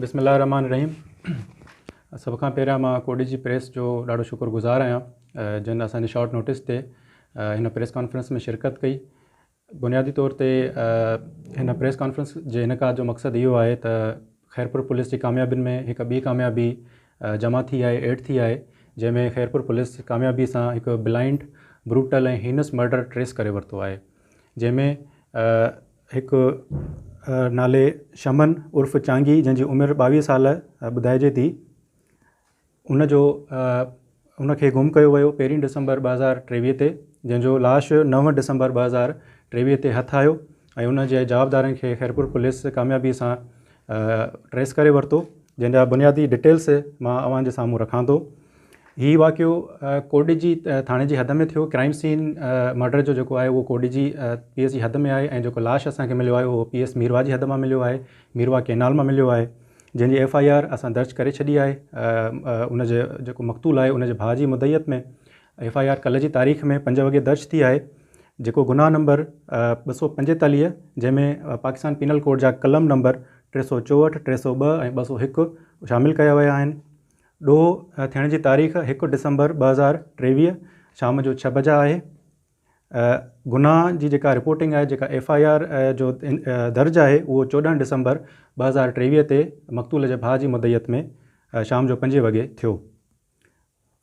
بسم الله الرحمٰن الرحيم سڀ کان پهريان مان ڪوڏي جي پريس جو ڏاڍو شڪر گذار آهيان جن اسان جي شارٽ نوٽس تي هن پريس ڪانفرنس ۾ شرڪت ڪئي بنيادي طور تي هن پريس ڪانفرنس جي انعقاد جو مقصد اهو آهي ته خيرپور پوليس جي ڪاميابين ۾ هڪ ٻي ڪاميابي جمع ٿي آهي، ايڊ ٿي آهي، جنهن ۾ خيرپور پوليس ڪاميابي سان هڪ blind, brutal ۽ heinous murder trace ڪري ورتو آهي، جنهن ۾ هڪ نالي شمن عرف چانگي جنهن جي عمر ٻاويهه سال ٻڌائجي ٿي، ان جو ان کي گم ڪيو ويو پهرين ڊسمبر ٻه هزار ٽيويهه تي جنهن جو لاش نو ڊسمبر ٻه هزار ٽيويهه تي هٿ آيو ۽ ان جي جوابدارن کي خيرپور پوليس ڪاميابي سان ٽريس ڪري ورتو جنهن جا بنيادي ڊيٽيلس مان اوهان جي سامهون رکان ٿو هي واقعو ڪوڏجي ٿاڻي جي حد ۾ ٿيو ڪرائم سين مرڊر جو جيڪو آهي اهو ڪوڏجي پي ايس جي حد ۾ آهي ۽ جيڪو لاش اسان کي مليو آهي اهو پي ايس ميروا جي حد مان مليو آهي ميروا ڪينال مان مليو آهي جنهن جي ايف آء آر اسان درج ڪري ڇڏي آهي ان جي جيڪو مقتول آهي ان جي ڀاء جي مدعيت ۾ ايف آء آر ڪلهه جي تاريخ ۾ پنج وڳي درج ٿي آهي جيڪو گناهه نمبر ٻه سؤ پنجيتاليهه جنهن ۾ پاڪستان پينل ڪوڊ جا قلم نمبر ٽي سؤ چوهٺ ٽي سؤ ٻه ۽ ٻه سؤ هڪ شامل ڪيا ويا آهن ڏوهه ٿيڻ جي تاريخ هڪ ڊسمبر ٻه هزار ٽيويهه شام جو ڇهه بجا آهي گناهه جي جيڪا رپورٽنگ آهي جيڪا ايف آء آر جو درج آهي اهو چوڏهن ڊسمبر ٻه هزار ٽيويهه تي مقتول جي ڀاء جي مدعيت ۾ شام جو پنجين وڳي ٿيو.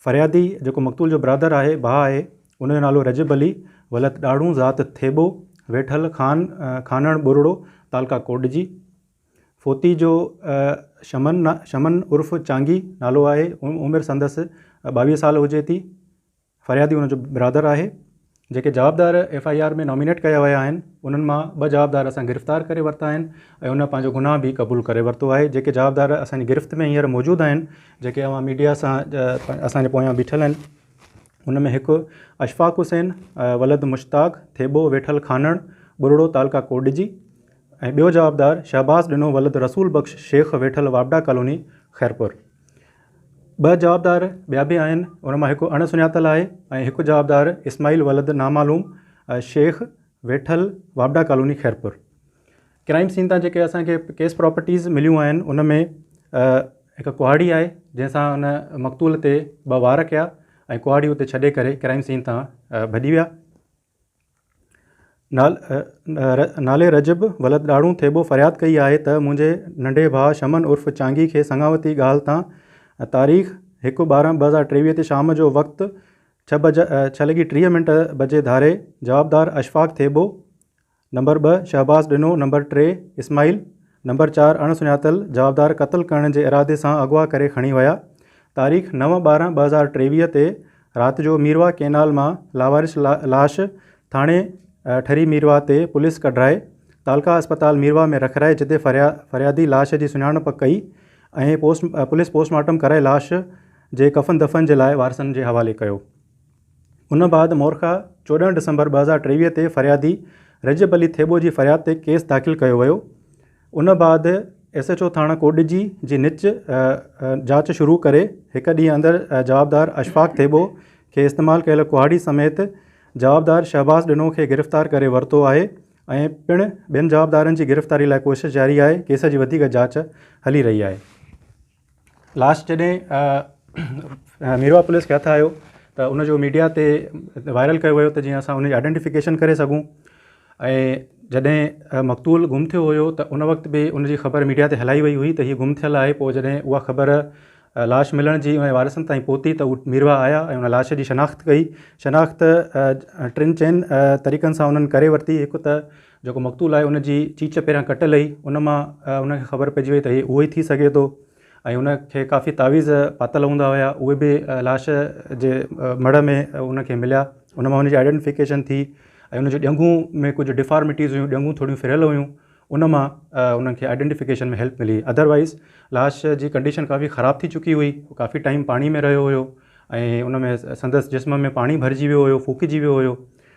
فريادي جيڪو مقتول جو برادر آهي، ڀاء آهي، ان جو نالو رجب علي ولد ڏاڙهون ذات ٿيٻو، ويٺل خان، خانڻ ٻرڙو، تعلقه ڪوڏجي. فوتي جو شمن، شمن عرف چانگي، نالو آهي، عمر سندس ٻاويهه سال هجي ٿي. فريادي ان جو برادر آهي، جيڪي جوابدار ايف آء آر ۾ نامينيٽ ڪيا ويا آهن، انهن مان ٻه جوابدار اسان گرفتار ڪري ورتا آهن ۽ انهن پنهنجو گناهه به قبول ڪري ورتو آهي، جيڪي جوابدار اسان جي گرفت ۾ هينئر موجود آهن، جيڪي اوهان ميڊيا سان اسان جي پويان بيٺل آهن، ان ۾ هڪ اشفاق حسين ولد مشتاق ٿيٻو ويٺل خانڻ ٻرڙو تعلقه ڪوڏجي ۽ ٻيو جوابدار شهباز ڏنو ولد رسول بخش شيخ ويٺل واپڊا ڪالوني خيرپور. ٻه جوابدار ٻيا به آهن، ان مان هڪ اڻ سڃاتل آهي ۽ هڪ جوابدار اسماعيل ولد نامعلوم شيخ ويٺل واپڊا ڪالوني خيرپور. ڪرائيم سين تان جيڪي اسان کي ڪيس پراپرٽيز مليون آهن ان ۾ هڪ ڪهاڙي آهي جنهن سان ان مقتول تي ٻه وار ڪيا ۽ ڪهاڙي اتي ڇڏي ڪري ڪرائيم سين تان ڀڄي ويا. نالي رجب ولد ڏاڙهون ٿيٻو فرياد ڪئي آهي ته منهنجي ننڍي ڀاء شمن عرف چانگي کي سڱاوتي ڳالهه تان تاريخ هڪ ٻارهن ٻه هزار ٽيويهه تي شام جو وقت ڇهه لڳي ٽيهه منٽ بجي ڌاري جوابدار اشفاق ٿيٻو نمبر ٻه شهباز ڏنو، نمبر ٽي اسماعيل، نمبر چار اڻ سڃاتل جوابدار قتل ڪرڻ جي ارادي سان اغوا ڪري کڻي ويا. تاريخ نو ٻارهن ٻه هزار ٽيويهه تي رات جو ميرواهه ڪئنال مان لاوارث لاش ٿاڻي ٺري ميرواهه تي پوليس ڪڍرائي تعلقه اسپتال ميرواهه ۾ رکرائي جتي فريادي لاش جي سڃاڻپ ڪئي ۽ پوليس پوسٽ مارٽم ڪرائي لاش جي ڪفن دفن جي لاء وارثن جي حوالي ڪيو. ان بعد مورخا چوڏهن ڊسمبر ٻه هزار ٽيويهه تي فريادي رجب علي ٿيٻو جي فرياد تي ڪيس داخل ڪيو ويو ان بعد ايس ايڇ او ٿاڻه ڪوڏجي جي نچ جاچ شروع ڪري هڪ ڏينهن اندر جوابدار اشفاق ٿيٻو کي استعمال ڪيل ڪهاڙي سميت جوابدار شهباز ڏنو کي گرفتار ڪري ورتو آهي ۽ پڻ ٻين جوابدارن جي گرفتاري لاء ڪوشش جاري آهي ڪيس جي وڌيڪ جاچ هلي رهي آهي. لاش جڏهن ميرواھ پوليس کي هٿ آيو ته ان جو ميڊيا تي وائرل ڪيو ويو ته جيئن اسان ان جي آئيڊينٽيفڪيشن ڪري سگهون ۽ جڏهن مقتول گم ٿيو هيو ته ان وقت به ان جي خبر ميڊيا تي هلائي وئي هئي ته هي گم ٿيل آهي پوء جڏهن اها خبر لاش ملڻ جي ۽ وارثن تائين پهتي ته هو ميرواھ آيا ۽ ان لاش جي شناخت ڪئي شناخت ٽن چئن طريقن سان انهن ڪري ورتي هڪ ته جيڪو مقتول آهي ان جي چيچ پهريان ڪٽل هئي ان مان ان کي خبر پئجي وئي ته هي اهو ئي ٿي سگهي ٿو ۽ ان کي ڪافي تعويذ پاتل هوندا هيا اهي به لاش جي مڙهه ۾ ان کي مليا ان مان ان جي آئيڊينٽيفڪيشن ٿي ۽ ان جي ڄنگهون ۾ ڪجهه ڊفارميٽيز هيون ڄنگهون ٿوريون ڦريل هيون ان مان انهن کي آئيڊينٽيفڪيشن ۾ هيلپ ملي اڌروائيز لاش جي ڪنڊيشن ڪافي خراب ٿي چڪي هئي ڪافي ٽائيم پاڻي ۾ رهيو هيو ۽ ان ۾ سندس جسم ۾ پاڻي ڀرجي ويو هيو ڦوڪجي ويو هيو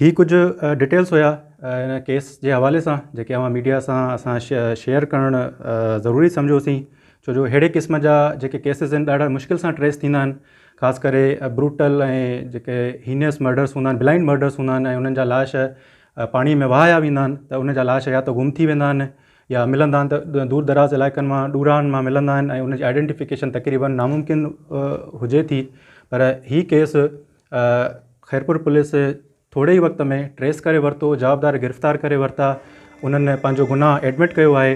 هي ڪجهه ڊيٽيلز هيا ان ڪيس جي حوالي سان جيڪي اوهان ميڊيا سان اسان شيئر ڪرڻ ضروري سمجهو سين ڇو جو ههڙي قسم جا جيڪي ڪيسز آهن ڏاڍا مشڪل سان ٽريس ٿيندا آهن خاص ڪري بروٽل ۽ جيڪي هينيس مرڊرس هوندا آهن بلائنڊ مرڊرس هوندا آهن ۽ انهن جا لاش پاڻي ۾ وهايا ويندا آهن ته ان جا لاش يا ته گم ٿي ويندا آهن يا ملندا آهن ته دور دراز علائقن مان ڏورانهن مان ملندا آهن ۽ ان جي آئيڊينٽيفڪيشن تقريبن ناممڪن هجي ٿي پر هي ڪيس خيرپور پوليس ٿوري ئي وقت ۾ ٽريس ڪري ورتو جوابدار گرفتار ڪري ورتا انهن پنهنجو گناهه ايڊمٽ ڪيو آهي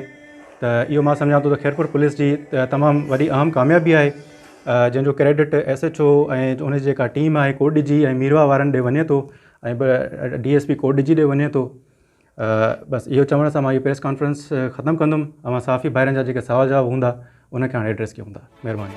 ته اهو مان سمجهان ٿو ته خيرپور پوليس جي تمام وڏي اهم ڪاميابي آهي جنهن جو ڪريڊٽ ايس ايچ او ۽ ان جي جيڪا ٽيم آهي ڪوٽ ڊي جي ۽ ميروا وارن ڏي وڃي ٿو ۽ D S P Kot Diji جي ڏي وڃي ٿو بس اهو چوڻ سان مان اهي پريس ڪانفرنس ختم ڪندم اوهان صحافي ڀائرن جا جيڪي سوال جواب هوندا ان کي هاڻي ايڊريس ڪيون ٿا مهرباني.